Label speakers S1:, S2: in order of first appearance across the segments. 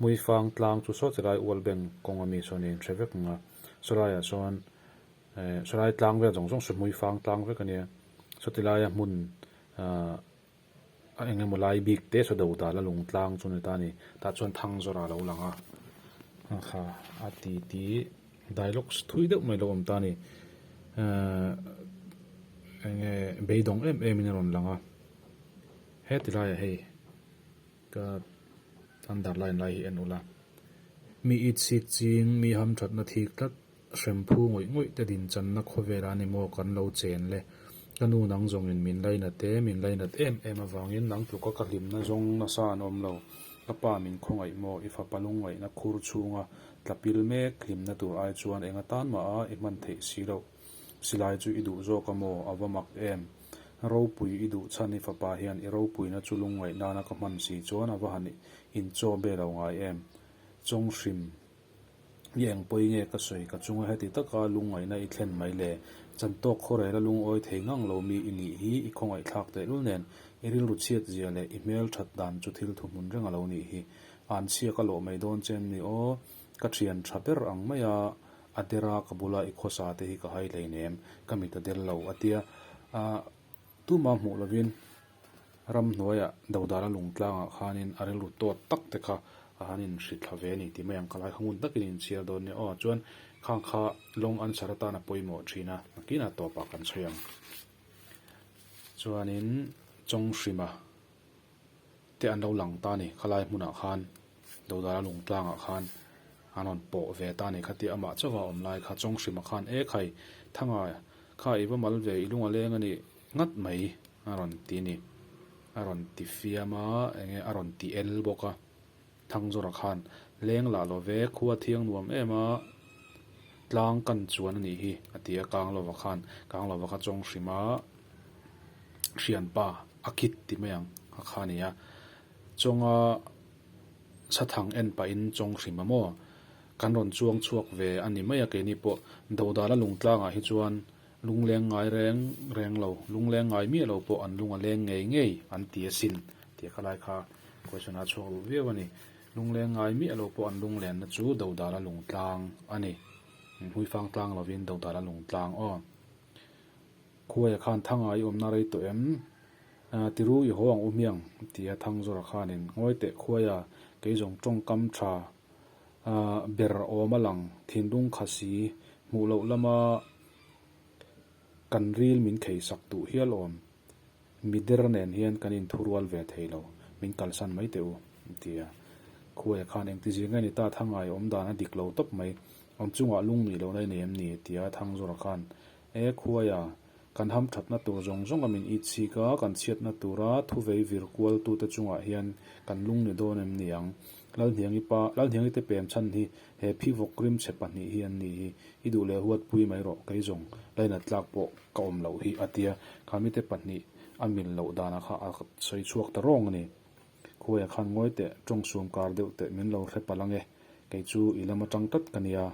S1: Muifang tlang chu saw chilai ual ben kawng a mi sawn a inhre vek ang a, sawlaia sawn eh sawlai tlang vel zawng zawng saw muifang tlang vek a nia, saw tilaia hmun ah a eng emaw lai bik te saw do dal a lung tlang chu ni ta ni, tah chuan thang zawrh a lo lang a ang kha a ti ti dialogues thui deuh mai lo awm ta ni eh eng nge beidawng em em in a rawn lang a, he tilaiah hei Ka underline lai hi en ula, mi it sik ching, mi ham thatna thik tlat, hrem phu ngawih ngawih te din channa khawvela ni maw kan lo chen le. Ka nu nang zawngin min lainat e, min lainat em em avangin nang tluka ka hlimna zawng nasa an awm lo. Ka pa min khawngaih maw, i fapa lung ngaihna khur chhunga tla pil mek hlimna tur ai chuan enga tan maha i hman theih si loh. Silai chu i duh zawk a maw? A va mak em? Ropui i duh chhan i fapa hian i ropuina chu lungngaih nana ka hman si chuan a va han inchaw be lo ngai em? Chawng hrim i engpawih nge ka sawi ka chunga heti taka lungngaihna i thlen mai le? Chantawk khawrela lungawi thei ngang lo mi i nih hi i khawngaihthlak tehlul nen i rilru chhiat zia leh i hmel that dan chu thil thuhmun reng a lo nih hi. An chhiak a lawh mai dawn che an ni aw. Ka thian tha ber ang mai a, a der a ka bula i khawsa te hi ka hai hleinem, ka mit a del lo a tia. A tumah hmuh lovin ram hnuaia Dodala lung tlangah khanin a rilru tawt tak te kha a han inhri thla ve a ni tih mai ang ka lai kha ngun takin a inchhiar dawn nia aw chuan khang kha long answer atan a pawimawh thin a hnakinah tawpah kan chhawi ang chuanin chawng hrim a. te an lo lang ta ni, khalai hmunah khan Dodara lung tlangah khan an rawn pawh ve ta ni kha tia amah chauha awm lai kha chawng hrimah khan e khai thanga kha i va mal ve i lung a leng a nih ngat mai a rawn ti ni a rawn tifiam a enge a rawn ti el bawk a. Thangzura khan leng lah lo ve, khu a thiang nuam em a, tlang kan chuan a nih hi, a ti a. Kang Lova khan Kang Lova ka chawng hrim a, Hrianpa a kit ti mai ang a kha ni a, chawnga sathang en pah in chawng hrim a maw? Kan rawn chuang chhuak ve a ni mai a keini pawh. Dodala lungtlangah hi chuan Lungleng ngai reng reng lo, lungleng ngai miah lo pawh an lung a leng ngei ngei an ti asin tih ka lai kha question a chhuak ru viau a ni. Lungleng ngai miah lo pawh an lung lenna chu Dodala lungtlang a ni. Hmuifang tlang lovin Dodala lungtlang aw. Khuaia khan Thanga i awmna rei tawh em? Aaa tiru i haw ang u hmiang tia Thangzawra khanin ngawi teh khuaia kei zawng tawngkam tha aa ber awm a lang thinlung khasi hmuh loh lama Kan ril min khei sak duh hial awm. Mi der nen hian kan in thu rual ve thei lo. Min kalsan mai teh u, a ti a. Khuaia khan engti zir nge ni ta Thangai awm dan a dik lo tawp mai. Awm chungah lung nih loh lai nei em ni? a ti a Thangzawra khan. E Khuaia, kan ham thatna tur zawng zawng a min itchhik a, kan chhiatna tura thu vei vir kualtute chungah hian kan lung ni dawn em ni ang? Lalhniangi pa, Lalhniangite pem chhan hi. He phihvawk rimchhe pahnih hi an ni hi, i duh leh huat pui mai rawh, kei zawng line a tlak pawh ka awm loh hi, a tia. Kha mite pahnih a mil loh dana kha a sawi chhuak ta rawng a ni. Khuai a khan ngawi teh, tawng sum kar deuh teh min lo hre palh ange, kei chu i lam atang tlat ka nia,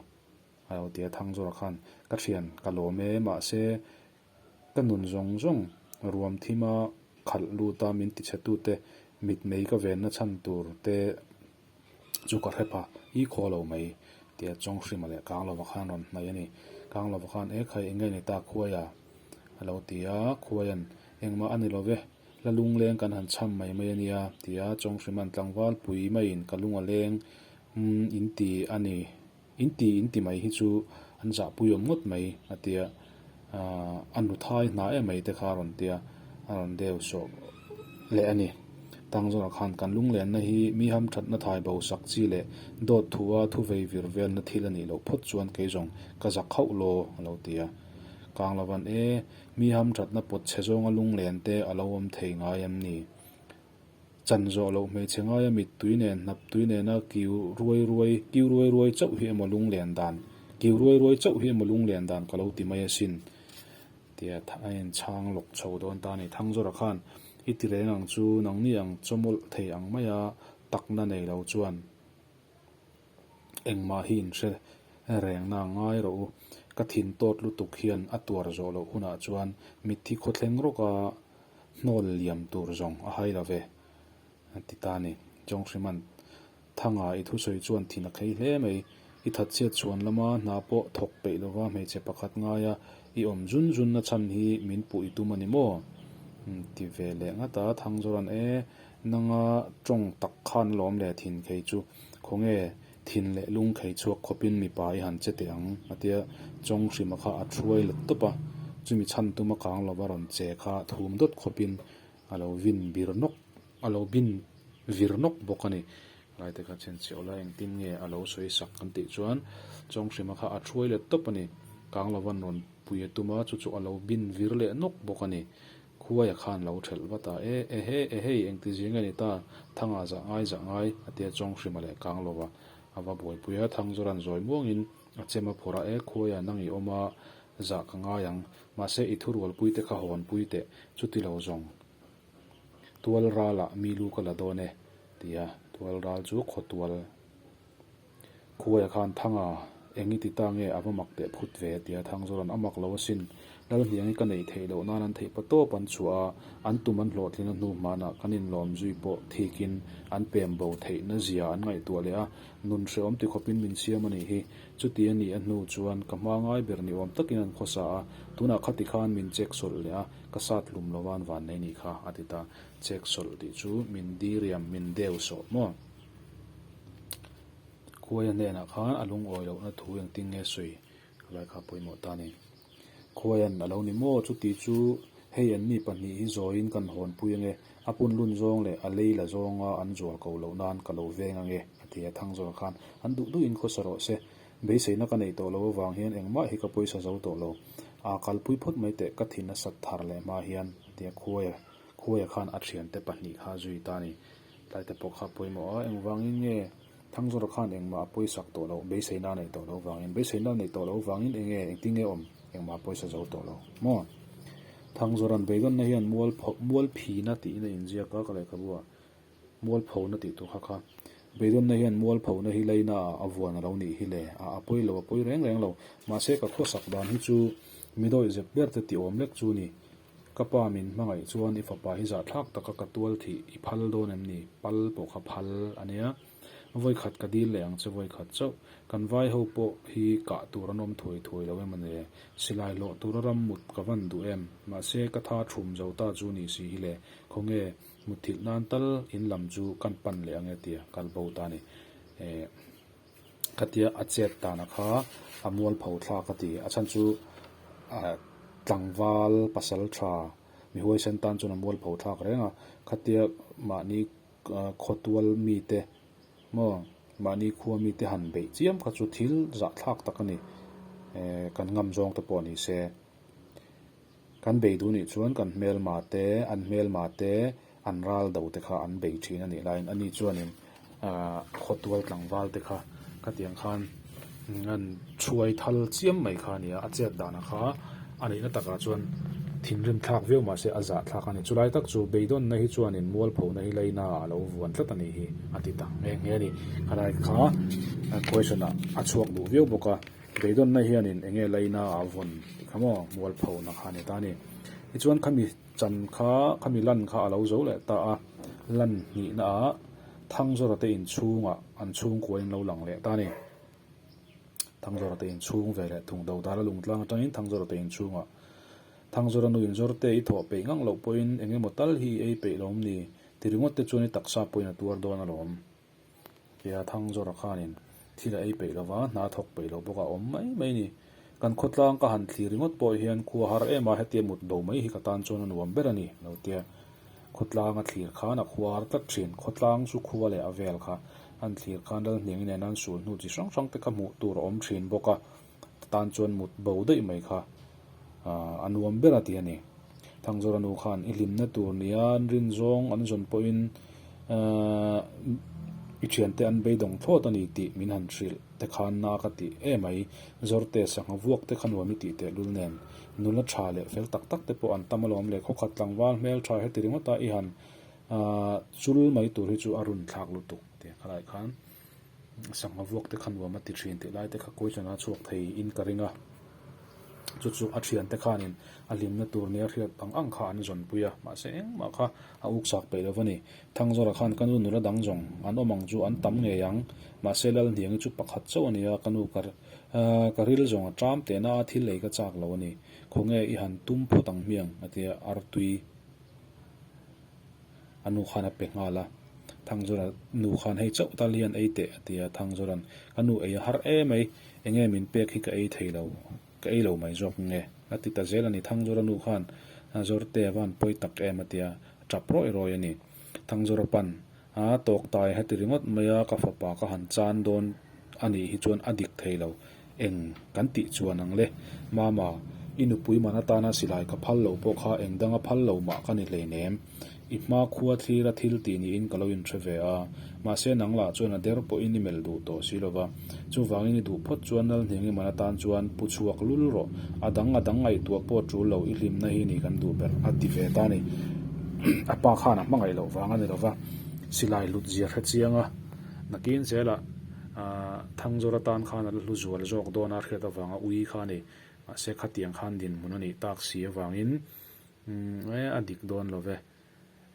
S1: a lo ti a Thangzora khan. Ka thian ka lawm e, mahse Ka nun zawng zawng ruam thim a, khalh lut a min tichhe tu te, mitmei ka venna chhan tur te chu ka hre pha i khaw lo mai. Tia chawng hrima leh kang lova khan rawn hnaih a ni. Kang lova khan e khai enge ni ta khuai a? a lo ti a, khuai an, engmah a ni lo ve, la lungleng kan han chham mai mai a nia tia chawng hrima an tlangval pui maiin ka lunga leng umm in ti a ni. In ti in ti mai hi chu an zahpui awm ngawt mai a tia, ah a nu thai hna e mai te kha a rawn tia a rawn deu sawh leh a ni. Tang zawkah khan kan lunglenna hi mi ham thatna thai bo sak chi leh dawt thu a thu vei vir velna thil a nih loh phawt chuan kei zawng ka zah khauh law a lo ti a. Kang lo van e, mi ham thatna pawt chhe zawnga lunglen te a lo awm thei ngai an ni. Chan zawh loh hmeichhe ngaia mittui nen, hnaptui nena kiu ruai ruai, kiu ruai ruai chauh hi emaw lunglen dan, kiu ruai ruai chauh hi emaw lunglen dan ka lo ti mai asin, tia tha a inchhang lawk chho dawn ta a ni. Thangzawra khan, I ti reng ang chu, nangni ang chawmawlh thei ang maia takna nei lo chuan, Engmah hi in hre rengna a ngai rawh u, ka thin tawt lutuk hian a tuar zawh loh hunah chuan mitthi khaw thleng rawka hnawl liam tur zawng a hai love a ti ta ni. Chawng Hriman, Thanga i thusawi chuan thin a khlei hle mai, i that chhiat chhuan lama hna pawh thawk peih lova hmeichhe pakhat ngaia i awm zun zunna chhan hi min puh i tum a ni maw? Ti ve leh ngat a, Thangzawran, E, nanga tawng tak khan a lawm le thin khei chu. Khawnge thin leh lung khei chhuak khawpin mipa i han che teh ang? a ti a. Chawng hrima kha a ṭhuai la tawp a, chumi chhan tuma kang lova rawn che kha thum dawt khawpin a lo vin bir nawk, a lo bin vir nawk bawk a ni. Laite kha chhenchhiah la, engtin nge a lo sawi sak? kan tih chuan chawng hrima kha a ṭhuai la tawp a ni, kang lova nawn pui a tum a, chu chu a lo bin vir leh nawk bawk a ni. Khuaia khan lo ṭhelh vat a, E, ehe, ehei, engti zing a ni ta, Thanga zah ngai zah ngai, a ti a chawng hrim a leh kang lo va. A va buaipui a, Thang chu ran zawi muangin a chem a phawrh a, E Khuaia nang i awm a, zah ka ngai ang, mahse i thurualpui te kha hawn pui teh, chuti lo zawng tual ral ah mi lu ka la dawn e, ti a, tual ral chu khaw tual. Khuaia khan Thanga, eng i ti ta nge a va mak teh phut ve a ti a, Thangzawla'n a mak lo asin. Lalhniang i ka neih theih loh nan an theih paw tawp an chhuah a, an tum an hlawhtlinna hnu hmanah kan inlawm zui pawh thikin an pem bo theihna zia an ngaihtuah leh a, nun hrehawm ti khawpin min siam a nih hi. Chuti a nih a hnu chuan ka hma ngai ber ni awm takin an khaw sa a, tunah khati khan min check sawlh leh a, ka sat hlum lo van vannei nih kha a ti ta. Check sawlh tih chu min diriam, min deu sawh maw? Khuaia hnenah khan a lungawi lohna thu eng ting nge sawi? Kalaikha pawimawh ta nen Khuaian a lo ni maw? Chuti chu hei an mi pahnih hi zawiin kan hawnpui ange, a punlun zawng leh a lei la zawnga an zual ko loh nan ka lo veng ange, a ti a. Thangzawr khan an duh duh in khawsa rawh se, beiseina ka neih tawh lo avang hian engmah hi ka pawisa zo tawh lo, aa kalpui phawt mai teh ka thin a sat thar leh hma hian, a ti a. Khuaia Khuaia khan a thiante pahnih kha zui ta nen. Hlaite pawh kha pawimawh a, engvangin nge Thangzura khan engmah a pawisak tawh loh, beiseina a neih tawh lo vangin? Beiseina a neih tawh lo vangin eng nge, engtin nge awm, engmah a pawisa zo tawh lo maw? Thangzura'n beidawnna hian mualpho, mualphina tiin a inziak a ka lehkhabuah, mualphona tih tur kha kha. Beidawnna hian mualphona hi lainaah a vuan a lo nih hi le, a a pawi lo, a pawi reng reng lo. Mahse ka khua sak dan hi chu mi dawih zep berte ti awm lek chu a ni. Ka pa min hmangaih chuan i fapa hi zah thlak taka ka tual thih i phal dawn em ni? Pal pawh kha phal a nia. Vawikhat ka dil leh ang che vawikhat chauh. Kan vai ho pawh hi kah tur an awm thuai thuai lo em a ni? Silai hlawh tura ram mut ka van duh em? Mahse ka tha thum zo ta chu ni si hi le. Khawnge mutthilh nan tal in lam chu kan pan leh ange tia kalbo ta ni e. ka tia a chet dan a kha a mual pho thla ka ti a chhan chu ah tlangval pasal tha mi huai sen tan chuan a mual pho thlak reng a kha tia mahni khaw tual mi te maw mahni khua mi te han beih chiam kha chu thil zah thlak tak a ni eh kan ngam zawng te pawh ni se. Kan beidu nih chuan kan hmelma te, an hmelma te, an ral do te kha an bei thin a nih laiin ani chuanin khawtual tlangval te kha khatiang khan an chhuai thal chiam mai kha a nia. A chêt dan ang kha a nihna takah chuan thinrim thlak viau mah se a zah thlak a ni. Chulai tak chu beidawnna hi chuanin mual phona hi laina a lo vuan tlat a nih hi a ti ta nghe nghe a ni. Khalaik kha question ah a chhuak duh viau bawk a. Veidawnna hianin enge laina a vawn tih kha maw? Mual pho na kha a ni ta a ni. I chuan khami chan kha, khami lan kha a lo zo leh ta a, lan hnihna ah Thangzawra te in chhungah an chhungkua in an lo lang leh ta a ni. Thangzawra te in chhung ve leh thung do dala lungtlang atangin Thangzawra te in chhungah Thangzawra nu in zawr te i thawh peih ngang loh pawhin engemaw tal hi i ei peih lawm ni, ti ringawt te chuan i taksa pawhin a tuar dawn alawm. Tia thang zawrah khanin thil a ei peih lo va, hna thawk peih lo bawk a awm mai mai ni. Kan khawtlang ka han thli ringawt pawh hian khua har em a hetia mut do mai hi ka tan chuan a nuam ber a ni, a lo tia. Khawtlang a thlir khan a khua har tlat thin. Khawtlang chu khua leh a vel kha an thlir khan ralhniangin a in an sul hnu chi hrang hrangte kha hmuh tur a awm thin bawk a. tan chuan mut bo daih mai kha a nuam ber a ti a ni. Thangzoranu khan i hlimna tur nia rin zawng an zawn pawhin i thiante an beidawng thlawt a ni tih min han hrilh te khan na ka ti e mai. Zawrte sangha vuak te kha nuam i tih tehlul nen nula tha leh fel tak tak te pawh an tam alawm le khawkhat tlangval hmel tha heti ringawta i han chul mai tur hi chu a runthlak lutuk a ti a khalaih khan. Sangha vuakte kha nuam a ti thin tih lai te kha Kawihlanah a chhuak thei in ka ring a. Chu chu a thian te khan in a hlimna tur nia hriat ang ang kha an zawnpui a, mahse engmah kha a uk chak peih lo va ni. Thangzara khan ka nu nula dang zawng an awm ang chu an tam ngei ang, mahse Lalhniang hi chu pakhat chauh a nia, ka nu ka ka ril zawng a tlam teh na a thil ei ka chak lo a ni, khawnge i han tum phawt ang hmiang a ti a artui. A nu khan a pe nghal a. Thangzura nu khan hei chauh tal hian ei teh a ti a. Thangzura'n ka nu ei a har e mai, enge min pek hi ka ei thei lo, ka ei lo mai zawk nge? A ti ta zel a ni. Thangzura nu khan Zawrte van pawi tak em a ti a, a tap rawi rawi a ni. Thangzura pan a tawk ta e a ti ringawt mai a, ka fapa ka han chan dawn a nih hi chuan a dik thei lo. Eng kan tih chuan ang le? Mama, i nupui man atana silai ka phal lo pawh kha eng danga phal lo mah ka ni hleinem? I hma khua thlira thil ti niin ka lo inhre ve a, mahse nang lah chuan a der pawhin i melh duh tawh si lova. Chuvangin i duh phawt chuan Nalhning i man atan chuan, Pu chhuak lul rawh, a dang a dang ngaihtuah pawh tul lo, i hlimna hi ni kan duh ber. A ti ve ta ni. A pa khan a hmangaih loh vang a ni lova, silai hlut zia hre chianga nakin zela. A Thangzawr atan khan ala hlu zual zawk dawn a hriat avanga Ui khan e, mahse khatiang khan dinhmun a nih tak si avangin umm e a dik dawn lo ve.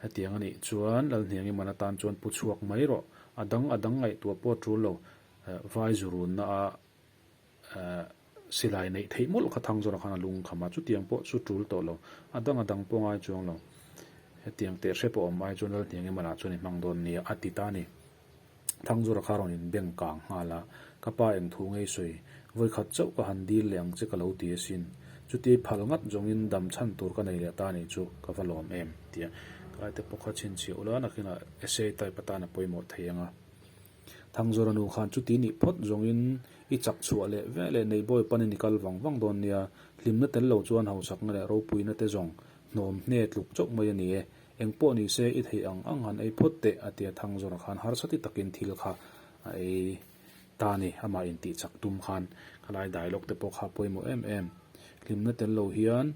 S1: Hetiang a nih chuan Lalhniangi man atan chuan pu chhuak mai rawh, a dang a dang ngaihtuah pawh a tul lo, vai zu runna a Ahh, silai neih theih mawlh kha thang zawrah khan a lung kham a, chutiang pawh chu tul tawh lo, a dang a dang pawh ngai chuang lo. Hetiang teh hre pawh awm ai chuan Lalhniang Ema lah chuan i hmang dawn nia a ti ta ni. Thang zawrah kha rawn in beng kang nghal a, ka pa eng thu ngei sawi, vawi khat chauh ka han dil leh ang che ka lo ti asin. Chuti phal ngat zawngin dam chhan tur ka nei leh ta nih chu ka va lawm em? tia Kalaite pawh kha chhinchhiah ula nakinah essay type atan a pawimawh thei ang a. Thangzura nu khan chuti nih phawt zawngin i chak chhuah leh ve leh neih bawi panin i kal vang vang dawn nia, hlimna tel lo chuan hauchakna leh ropuina te zawng hnawm hne tluk chauh mai a ni e, eng pawh ni se i theih ang ang han ei phawt teh a tia Thangzura khan harsati takin thil kha a ei ta a ni, amah in tih chak tum khan khalai dialogue te pawh kha pawimawh em em, hlimna tel lo hian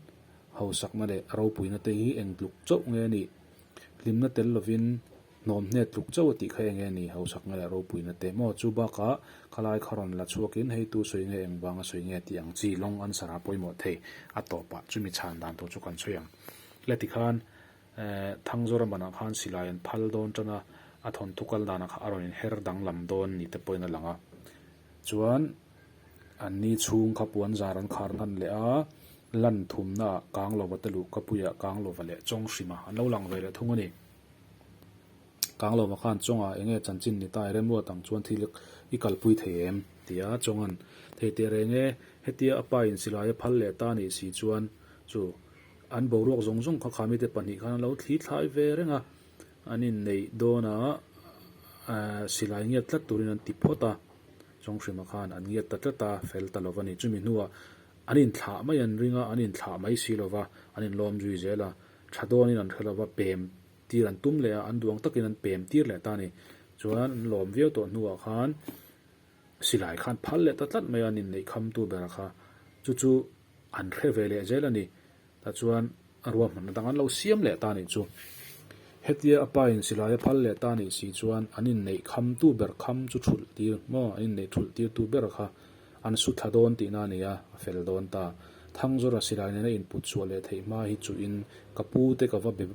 S1: hauchakna leh ropuina te hi eng tluk chauh nge nih, hlimna tel lovin. Hnawm hnet tluk chauh a tih kha eng e ni, hausak nge leh ropui na teh maw? Chu bakah khalai kha rawn la chhuakin hei tu sawi nge eng vanga sawi nge tih ang chi long answer a pawimawh thei a tawh pah chu mi chhan dan tur chu kan sawi ang. Hla ti khan eh thang zawra manah khan silai an phal dawn tan a, a thawnthu kal danah kha a rawn in her danglam dawn ni te pawhin a lang a. Chuan an ni chhung kha puan zar an khar nghan leh a, lan thumna ah kang lova te luh ka puiah kang lova leh chawng hrima an lo lang ve leh thung a ni. Kang lova khan Chawnga enge chanchin ni ta i remruat ang chuan thil i kalpui thei em? ti a, Chawnga'n thei teh reng e, hetia a pa in silai a phal leh ta nih si chuan chu an boruak zawng zawng kha kha mite pahnih khan an lo thli thlai ve reng a, an in neih dawn a, aah silai ngiat tlat tur in an ti phawt a, Chawnghrima khan an ngiat ta tlat a, fel ta lo va ni, chumi hnuah an in thlah mai an ring a, an in thlah mai si lova an in lawm zui zel a, Tha dawnin an hre lo va, pem tir an tum leh a, an duang takin an pem tir leh ta a ni. Chuan an lawm viau tawh hnuah khan silai khan phal leh ta tlat mai a, ninneih khamtu bera kha chu chu an hre ve leh zel a ni. Tah chuan a ruahmanna dang an lo siam leh ta a nih chu. Hetia a pa in silai a phal leh ta a nih si chuan an inneih khamtu ber kham chu thulh tir maw, an inneih thulh tirtu ber kha, An su thla dawn tihna a nia, a fel dawn ta. Thangzawra silai nena inputsuah leh theih hma hi chuhin ka pu te ka va be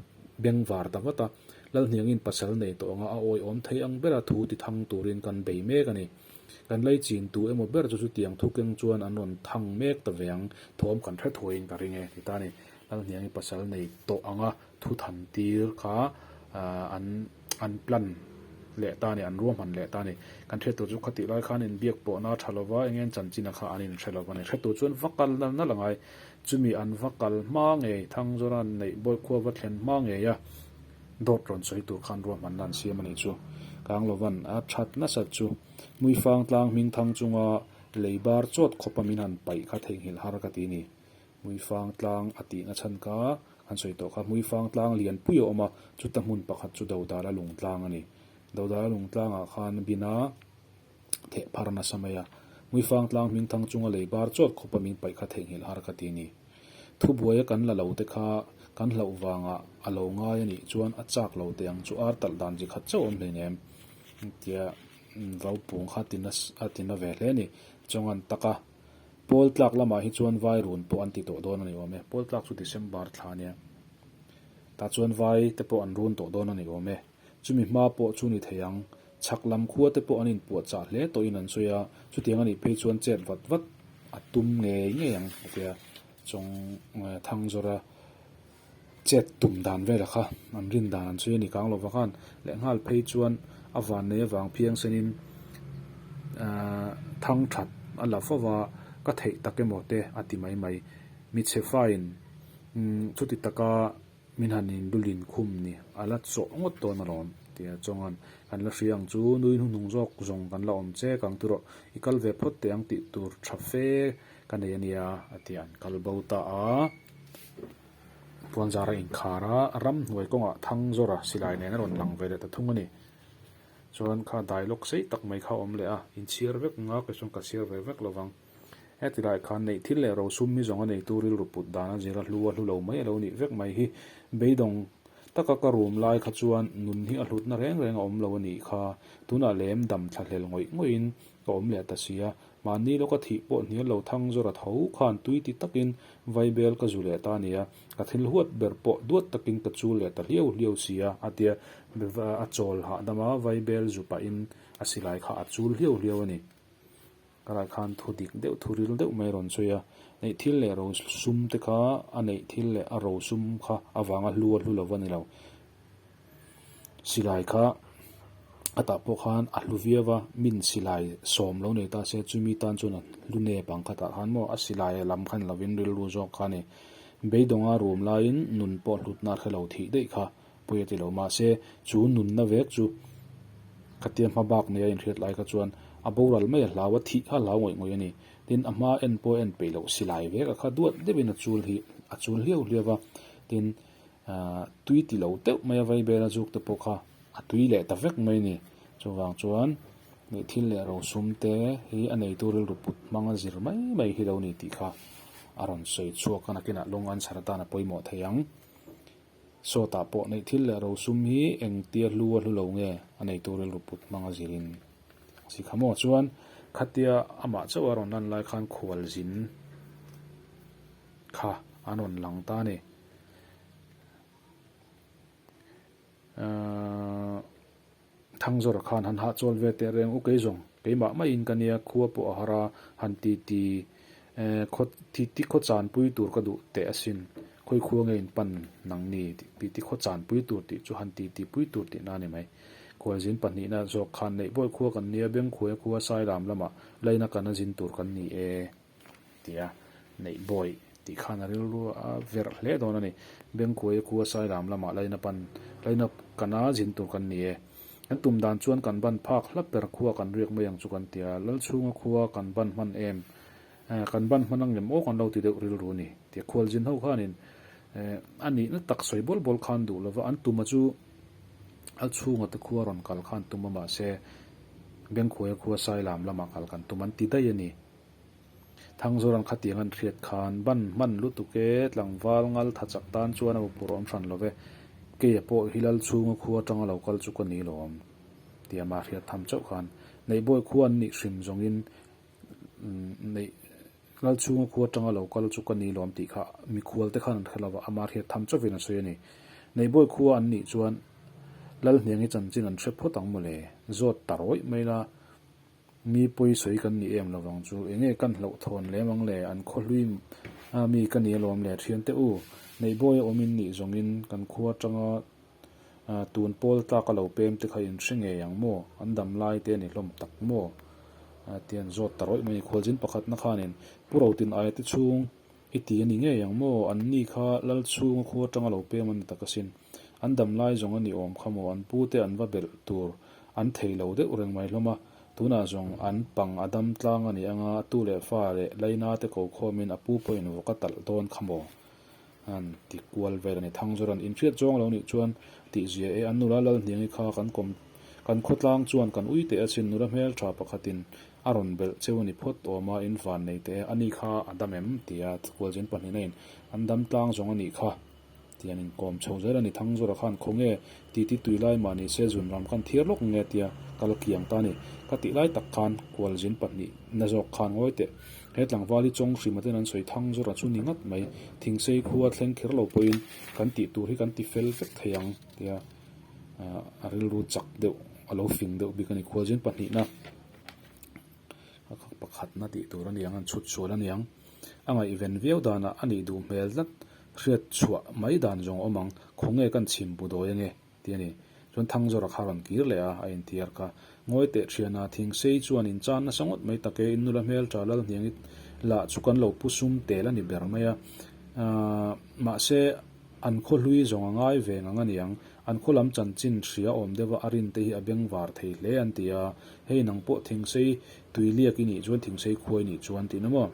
S1: beng var ta vat a. Lalhniangin pasal nei tawh anga a awiawm thei ang bera thu ti thang turin kan bei mek a ni. Kan lei chin tu emaw ber chu chutiang thu keng chuan an rawn thang mek ta ve ang, thawm kan hre thuaiin ka ring e, ti ta a ni. Lalhniangin pasal nei tawh anga. Thu tham tir kha an an plan leh ta a ni, an ruahman leh ta a ni. Kan hriat tur chu khatih lai khan inbiak pawh na a tha lo va, eng eng chanchinah kha an inhre lo va ni. Hriat tur chuan va kal nal nal angai, chumi an va kal hma ngei, thang zawn a neih bawih khua va thlen hma ngei a, dawt rawn sawi tur khan ruahmanna an siam a nih chu. Kang lo van, a that nasat chu Muifang tlang hming thang chunga lei bar chawt khawpa min han paih kha theihnghilh har ka ti a ni. Hmuifang tlang a tihna chhan kha an sawi tawh kha, hmuifang tlang lian pui a awm a, chuta hmun pakhat chu Dodala lungtlang a ni. Dodala lungtlangah khan Bina theh phar nasa mai a, hmuifang tlang hming thang chunga lei bar chawt khawpa min paih kha theihnghilh har ka ti a ni. Thubuaia kan la lo te kha kan hlauh vangah a lo ngai a nih chuan a chak lo teh ang chu ar talh dan zi khat chauh awm hlei nem tia Vaupung kha a tina ve hle a ni. Chawngan taka Pawl tlak lamah hi chuan vai run pawh an ti tawh dawn a ni awm e. Pawl tlak chu December thla a nia. Tah chuan vai te pawh an run tawh dawn a ni awm e. Chumi hma pawh chu ni thei ang. Chhak lam khua te pawh an inpuahchah hle tawhin an sawi a, chutiang a nih phei chuan chet vat vat a tum ngei ngei ang a tia chawng thang zawrh a. chet tum dan vela kha an rin dan ang chuia nikang lo vakhan lehnghal phei chuan a vannei avang phiang senin aah thang that a la fo va ka theih tak emaw te a ti mai mai hmeichhe faiin umm chuti taka min han in dul in khum ni a la chawh ngawt dawn alawm tia chuang an kan la hria ang chu nui hnu hnung zawk zawng kan la awm che kang tu rawh i kal ve phawt teh ang tih tur tha fe ka nei ania a ti a an kal bo ta a. Puanzar a inkhar a, a ram hnuai kawngah thang zawra silai nen a rawn lang ve leh ta thung a ni. Chuan kha dialogue sei tak mai kha a awm leh a, in chhiar vek nga ka chuan ka chhiar ve vek lovang. Heti lai khan neih thil leh rosum mi zawnga neitu rilru put dan a zir a, hlu a hlu lo mai a lo nih vek mai hi. Beidawng taka ka rum lai kha chuan nun hi a hlutna reng reng a awm lo a nih kha, tunah lem dam thlahlel ngawih ngawih in Ka awm leh ta sia, mahni lawka thih pawh hnial lo thang zawra tho khan tui ti takin vai bel ka zu leh ta nia, ka thil huat ber pawh duat takin ka chul leh ta hliau hliau sia, a tia. A chawl hahdama vai bel zu pahin a silai kha a chul hliau hliau a ni. Ka ral khan thu dik deuh, thu ril deuh mai a rawn sawi a, neih thil leh ro sum te kha a neih thil leh a ro sum kha avanga hlu a hlu lo va ni lo. Silai kha a tah pawh khan a hlu viau va, min silai sawm lo nei ta se, chumi tan chuan a hlu nep ang kha tah khan maw, a silai a lam khan lovin rilru zawk kha a ni. Beidawnga rum laiin nun pawh hlutna a hre lo thih daih kha pawia ti lo. Mahse, chu nunna vek chu ka tia hma bak neia inhriat lai kha chuan a boral mai a hlau a, thih kha a hlau ngawih ngawih a ni. Tin, a hma en pawh a en peih loh, silai vek a kha duat deuhin a chul hi a chul hliau hliau va. Tin, Tui ti lo teuh mai a vaibel a zuk te pawh kha a tui leh ta vek mai ni. Chuvang chuan nih thil leh ro sum te hi a neitu rilru put hmang a zir mai mai hi lo ni tih kha a rawn sawi chhuak a, nakinah long answer atan a pawimawh thei ang. Sawtah pawh neih thil leh ro sum hi eng tia hlu a hlu lo nge a neitu rilru put hmang a zirin a si kha maw? Chuan khatia amah chauh a rawn lan lai khan khualzin kha an rawn lang ta a ni. Thangzawr khan han hah chawl ve teh reng u kei zawng, keimah maiin ka nia, khua pawh a har a, han titi khaw titi khaw chan pui tur ka duh teh asin, khawi khua nge in pan nang ni tih titi khaw chan pui tur tih chu han titi pui tur tih na a ni mai. Khualzin pahnihna zawk khan neih bawi khua kan nia, Bengkhuaia khua Sailam lamah laina kana zin tur kan ni e. ti a, neih bawi tih khan a rilru a verh hle dawn a ni. Bengkuaia kua Sailam lamah laina pan laina kana zin tur kan ni e. Kan tum dan chuan kan ban phak hla per khua kan riak mai ang chu kan ti a, Lalchhunga khua kan ban hman em? Eh, kan ban hman anglem aw kan lo ti deuh rilru ni, ti a khualzin ho khanin eh, a nihna tak sawi bawl bawl khan duh lo va, an tuma chu Lalchhunga te khua rawn kal khan tum a mahse, Bengkuaia khua Sailam lamah kal kan tum an ti daih a ni. Thangzur an kha tiang an hriat khan ban hman lutuk e, tlangval ngal tha chak tan chuan a va purh awm hran love, keia pawh hilal chhunga khu atanga lo kal chu ka ni lawm tia mah hriat tham chauh khan Neihbawi khua an nih hrim zawngin neih lal chhunga khu atanga lo kal chu ka ni lawm tih kha mikhual te khan an hre lova amah hriat tham chauh in a sawi a ni. Neihbawi khua an nih chuan lal hniang hi chanchin an hre phawt ang maw le, zawt ta rawih mai la Mi pawi sawi kan nih em lovang chu eng nge kan hlauh thawn lem ang le, an khaw hlui a mi ka ni alawm le, thian teh u, neihbawi a awmin nih zawngin kan khua atanga tun pawl tlak a lo pem te kha in hre ngei ang maw, an dam lai te a ni hlawm tak maw? ti a zawt ta rawih mai, khualzin pakhatna khanin Pu Rautin aia te chhung I ti a ni ngei ang maw? An ni kha Lal chhunga khu atanga lo pem a ni tak asin. An dam lai zawng a ni awm kha maw? An pu te an va belh tur an thei lo deuh reng mai hlawm a. Tunah zawng an pang a dam tlang a ni ang a, a tu leh fa leh Laina te ko khawmin a pu pawhin vawk a talh dawn kha maw? An ti kual vel a ni. Thangzawra'n inhriat zawng lo nih chuan tihzia e, an nula Lalhniangi kha kan kawm kan khaw tlang chuan kan ui teh asin. Nula hmeltha pakhatin A rawn belh cheu a ni phawt awm a, in van nei teh e, ani kha a dam em? tia Kualzin pahnihin a in, An dam tlang zawng a nih kha, tia an inkawm chho zel a ni. Thangzura khan, Khaw nge, titi tui lai mah ni se, zun ram kan thir lawk nge? tia kal kiang ta a ni. Ka tih lai tak khan Kualzin pahnih na zawk khan ngawi teh. He tlangval hi chawng hrim atin an sawi Thangzura chu ni ngat mai, Thingsei khua thleng khir lo pawhin kan tih tur hi kan ti fel vek thei ang, tia a rilru chak deuh, a lo fing deuh bik a ni. Kualzin pahnihna pakhatna tih tur aniang an chhut sual aniang a ngaihven viau dana a nih duh hmel tlat hriat chhuah mai dan zawng a awm ang khawnge kan chhim pu dawi ange ti ani chuan thang zawrah kha a rawn kir leh a a inthiar kha ngawi teh thiana thing sei chuan in chan nasa ngawt mai tak e in nula hmel tha lal hniang it lah chu kan lo pu sum tel ani ber mai a mahse an khaw hlui zawng a ngai veng ang aniang. An khawlam chanchin hria awm deuha a rin te hi a beng var thei hle an ti a, hei nang pawh Thengsei tui liak i nih chuan Thengsei khuai nih chuan tih na maw?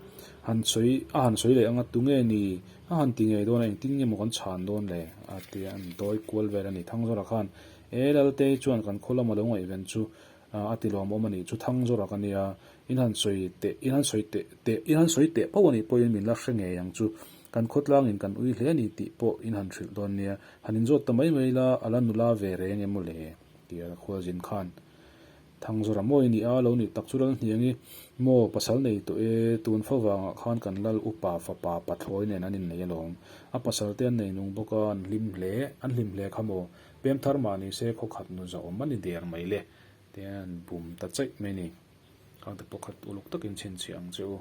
S1: Han sawi, a han sawi leh anga tunge ni? A han ti ngei dawn a, engtin nge maw kan chhan dawn le? a ti a, an dawi kual vel a ni. Thangzara khan, E Laltei chuan kan khawlam a lo ngaihven chu, A ti lawm awm a nih chu thang zawh rak a nia, in han sawi teh, in han sawi teh teh, in han sawi teh poh a nih pawhin min la hre ngei ang chu, kan khawtlangin kan ui hle a nih tih pawh in han hrilh dawn nia, han inzawt ta mai mai la, a la nula ve reng em aw le? ti a khualzin khan. Thang zawh rah maw i nih a, lo nih tak chu ral hniang i, maw pasal nei tawh e, tun fa vangah khan kan lal upa fapa pathlawi nen an innei alawm, a pasal te an nei nung bawk a, an hlim hle, an hlim hle kha maw, Pem thar mahni se khaw khat nu zawh awm a ni der mai le, tian bum ta cheih mai ni. Khangte pawh khat uluk takin chhinchhiah ang che u.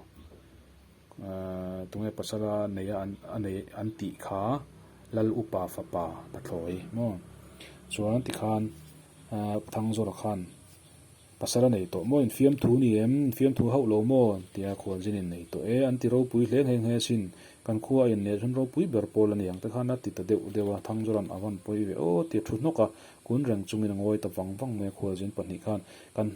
S1: Aaa, tunge pasala nei a an a nei an tih kha lal upa fapa ta thlawi maw? Chuan tikhan aaa Thangzawra khan Pasal a nei tawh maw? Infiamthu ni em? Infiamthu hauh lo maw? tia khualzin in nei tawh e. An ti ropui hle nghe nghe sin. Kan khua a in leh chuan ropui ber pawl a ni ang te khan a ti ta deuh deuh a, Thangzawlan a van pawi ve aw tia thu hnawk a, kun reng chungin a ngawi ta vang vang mai a khualzin pahnih khan kan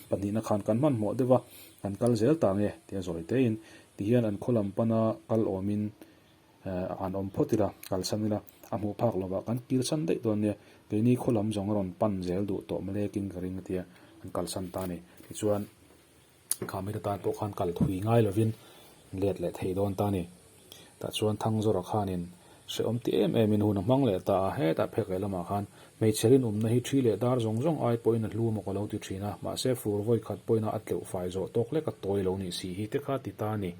S1: pahnih na khan kan hmanhmawh deuh a, kan kal zel ta nge tia zawi tein tihian an khaw lam pan a kal awm in a han awm phawt ila kalsan ila a hmuh phak lovah kan pilsan daih dawn nia, keini khaw lam zawng a rawn pan zel duh tawh mawle king ka ring a tia an kalsan ta a ni. Tichuan khami te tan pawh khan kal thui ngai lovin let leh thei dawn ta a ni. Tah chuan Thangzawra khanin hrehawm ti em emin hun a hmang leh ta a, hetah phek leh lamah khan hmeichhe rinawmna hi thi leh dar zawng zawng ai pawhin a hlu maw ka lo ti thin a, mahse fur vawi khat pawhin a a tleuh fai zawh tawk lek a tawi lo nih si hi te kha ti ta a ni.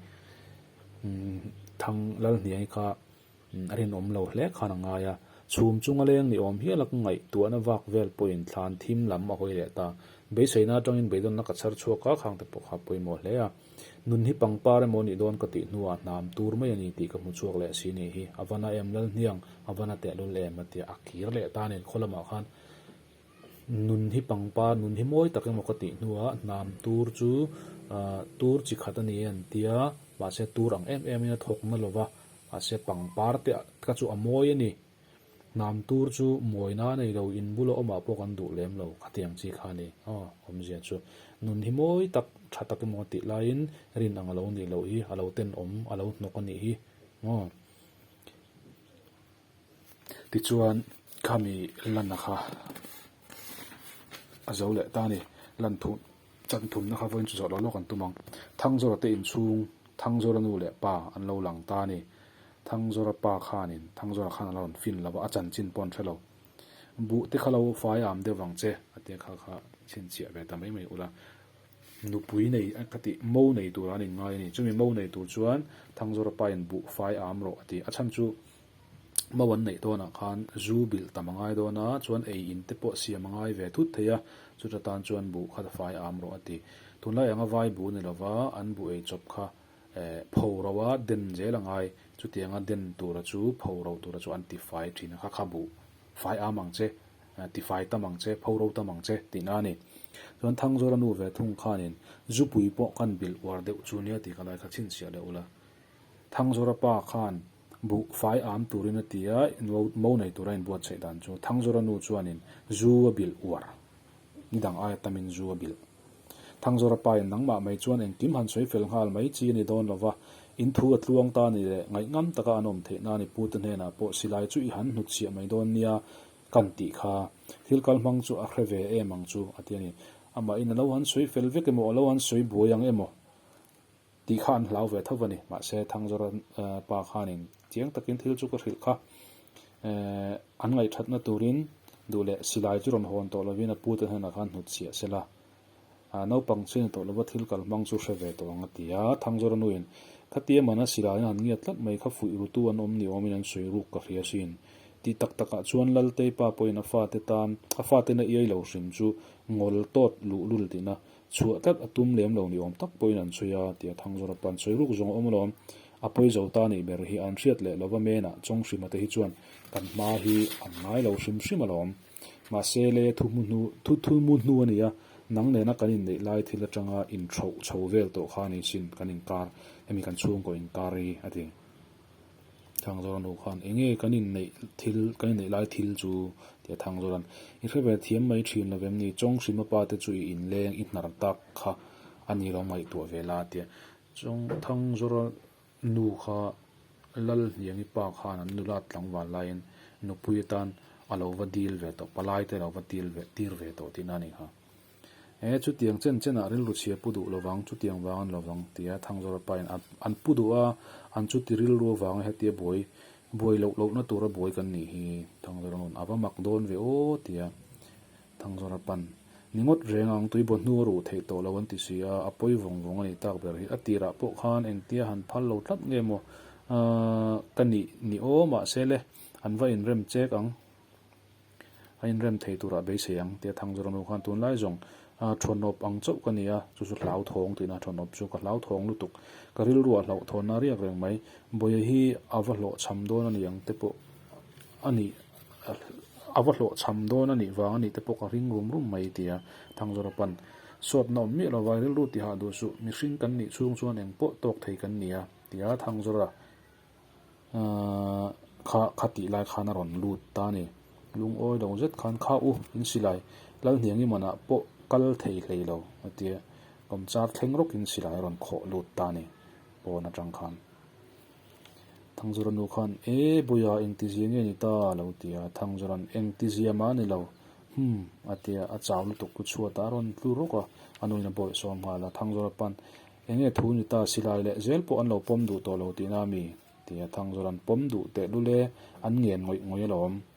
S1: Thang Lalhniai kha a rinawm lo hle khan a ngai a, chhum chunga leng ni awm hiala ka ngaih tuahna vak vel pawhin thlan thim lam a hawi leh ta. Beiseina atangin beidawna ka chhar chhuak a, khangte pawh kha a pawimawh hle a. Nun hi pangpar emaw ni dawn ka tih hnuah hnam tur mai a ni tih ka hmu chhuak leh si nih hi, a vana em Lalhniang, a vana tehlul em? a tia a kir leh ta nen khaw lamah khan Nun hi pangpar nun hi mawi tak emaw ka tih hnuah hnam tur chu ah tur chi khat a ni an ti a, mahse tur ang em em in a thawk na lo va, mahse pangpar te ka chu a mawi a ni. Hnam tur chu mawina a nei lo, in bula awm ah pawh kan duh lem lo kha tiang chi kha a ni aw awmzia chu nun hi mawi tak tha tak emaw tih lai in rin ang a lo nih loh hi a lo ten awm a lo hnawk a nih hi aw. Tichuan, khami Lana kha a zo leh ta a ni. Lan thu chan thumna kha vawiin chu zawh lo lawk an tum ang. Thangzawra te inchhung Thangzawra nu leh pa an lo lang ta a ni. Thangzawra pa khanin Thangzawra khan a lo rawn fin lova, a chanchin pawh an hre lo. Buh te kha lo fai am deuh vang che, a te kha kha chhinchhiah ve ta mai mai ula, Nupui nei ka ti, mo nei turah an inngai a ni. Chumi mo nei tur chuan Thangzawra pain buh fai a awm rawh a ti. A chhan chu mo an neih dawnah khan zu bilh tam a ngai dawn a, chuan ei in te pawh siam a ngai ve thut thei a, chuta tan chuan buh kha ta fai a awm rawh a ti. Tunlai anga vai bu ni lova an buh ei chawp kha eh pho ro a den zel a ngai, chutianga den tura chu pho ro tura chu an ti fai thin a, kha kha buh fai am ang che. Tifai tam ang che, pho ro tam ang che, tih na a ni. Chuan Thangzawra nu ve thung khanin, Zupui pawh kan bilh uar deuh chu nia tih ka lai kha chhin chiah leh u la. Thangzawra pa khan buh fai âwm turin a ti a, mo nei tura inbuat chheih dan chu. Thangzawra nu chuanin, Zu a bilh uar. Ni dang aia tamin zu a bilh. Thangzawra pain, Nangmah mai chuan engkim han sawi fel nghal mai chi a ni dawn lo va, in thu a tluang ta a ni le, ngaih ngam taka an awm theihna a ni, Pu te hnenah pawh silai chu i han hnutchhiah mai dawn nia, Kan tih kha, thil kal hmang chu a hre ve em ang chu a ti a ni. Amahin a lo han sawi fel vek emaw, a lo han sawi buai ang emaw tih kha an hlau ve tho a ni. Mahse, Thangzara pa khanin chiang takin thil chu ka hrilh kha. An ngaihṭhatna turin duh leh silai chu rawn hawn tawh lovin a pute'n haihnah khan hnutchhiah se la. Naupang chhiani tawh lova thil kalhmang chu hre ve tawh ang a ti a. Thangzoranu-in, Khatia mana silaiin han ngiat tlat mai kha fuih rutu an awm ni awmin an sawi ruk ka hria sin. Tih tak takah chuan Laltei pa pawhin a fate tan, a fatena iai lo hrim chu ngawl tawt luh lul tihna, chhuah tlat a tum lem lo ni awm tak pawhin an sawi a, tia Thangzora pan sawi ruk zawng a awm alawm. A pawi zo ta nih ber hi an hriat leh lova menah chawng hrimate hi chuan kan hma hi an ngai lo hrim hrim alawm. Mahse lei a thu hmu hnu, thu thu mu hnu a ni a, nang nena kan inneih lai thil atanga intho chho vel tawh khan i sin kan inkar, hemi kan chhungkaw inkar hi a ti. Thangzawra nu khan, Enge kan inneih thil, kan inneih lai thil chu? ti a Thangzawran, I hre ve thiam mai thin lo vem ni, Chawnghrima pa te chu i inleng, i hnar tak kha a ni lo ngaihtuah ve la, a ti a. Chawng, Thangzawra. Nu kha Lal hniangi pa khan an nulat tlangval laiin nupui atan a lo va dil ve tawh, palai te a lo va til ve, tir ve tawh tihna a ni kha. E, chutiang chen chenah rilru chhia pu duh lo vang, chutiang vang an lo vang, tia Thangzawra pain a an pu duh a, an chuti rilru avanga hetia buai, buai loh lohna tura buai kan nih hi Thangzawra nun a va mak dawn ve aw, tia Thangzawr a pan. Ni ngawt reng ang tui bawh hnu a ruh theih tawh lo an ti si a, a pawi vawng vawng a nih tak ber hi. A tirah pawh khan engtia han phal lo tlat nge maw aah ka nih ni aw mahse le an va inrem chek ang, a inrem thei turah beisei ang tia Thangzawr a nu khan tunlai zawng aah thawhnawp ang chauh ka nia, chu chu hlau thawng tih na thawhnawp chu ka hlau thawng lutuk, ka rilru a hlauh thawnna riak reng mai, Bawia hi a va hlawh chham dawn a ni ang te pawh a nih. A va hlawhchham dawn a nih vang a nih te pawh ka hring rum rum mai, a ti a. Thangzawra pan, Sawt na awm miah lo vai, rilru ti hah duh suh, mihring kan nih chhung chuan eng pawh tawk thei kan ni a, ti a. Thangzawra kha kha tih lai khan a rawn lut ta a ni. Lungawi lo zet khan, Kha u, in si lai, Lalhniang imanah pawh kal thei hlei lo, a ti a. Lawmchar thleng rawkin si lai a rawn khawh lut ta a ni, pawn atang khan. Thangzura nu khan, E buia, engtizia nge ni ta? a lo ti a. Thangzura'n, Engtizia mah a ni lo. Hum! a ti a, a chau lutuk pu chhuat a, a rawn tlu rawk a, a nuin a bawih sawm nghal a. Thangzura pan, Enge thu ni ta? Silai leh zel pawh an lo pawm duh tawh lo tihna a mi? a ti a. Thangzura'n, Pawm duh teh lul e, an ngen ngawih ngawih a lo awm.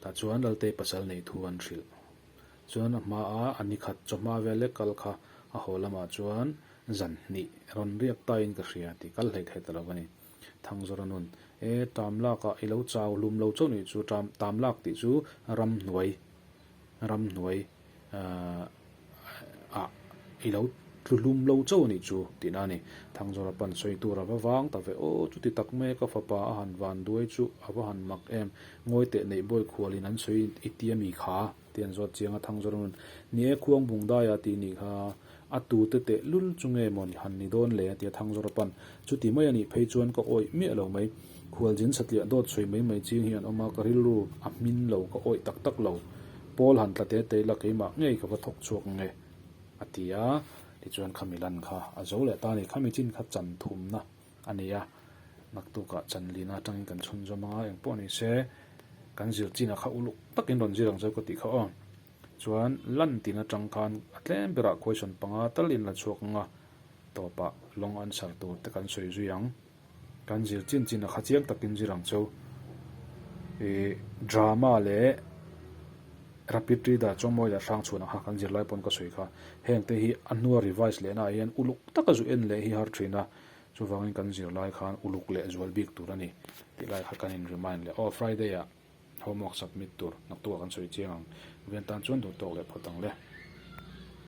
S1: Tah chuan Laltei pasal neih thu an hrilh. Chuan a hma a a ni khat chaw hma vel lek kal kha a haw lamah chuan zan hnih rawn riak ta in ka hria tih kal hlet hlet a lo a ni. Thang zawrh a nun, E tam lak ah i lo chau hlum lo chauh nih chu tam lak tih chu ram hnuai ram hnuai Ahh ah i lo tlu hlum lo chauh a nih chu tihna a ni. Thangzawra pan sawi tur a va vang ta ve aw, chuti tak mai ka fapa a han van duai chu a va han mak em, ngawi teh neih bawi khual in an sawi i ti a mi kha, ti a ni zawt chiang a Thangzawra nun. Ni e, khuang bung dai a ti a nih kha. A tute teh lul chu nge maw ni han ni dawn le a ti a thang zawra pan. Chuti mai a nih phei chuan ka awih miah lo mai. Khualzin satliah dawt sawi mai mai chiang hi an awm a, ka rilru a hmin lo ka awih tak tak lo. Paul han tla te te ila keimah ngei ka va thawk chhuak nge a ti a. Tichuan kha Milan kha a zo leh ta ni. Kha michin kha chan thumna a ni a, ngaktukah chanlin atangin kan chhun zawm anga engpawh ni se kan zir chinah kha uluk takin rawn zir ang zo ka tih kha aw. Chuan lan tin atang khan a tlem berah khuaisawn panga tal in la chhuak ang a, tawpah lawng an sar tur te kan sawi zui ang. Kan zir chin chin a kha chiang tak in zir ang chu. I drama leh rapid reader chawngmawi leh hrang chhuan ang kha kan zirlai pawn ka sawi kha. Heng te hi a hnua revise leh naah hian uluk taka zu en leh hi har thin a, chuvangin kan zirlai khan uluk leh zual bik tur a ni tih lai kha kan in remind leh. Aw Friday ah. Homework submit tur naktuk ah kan sawi chiang ang. Veng tan chuan duh tawk leh phawt ang le.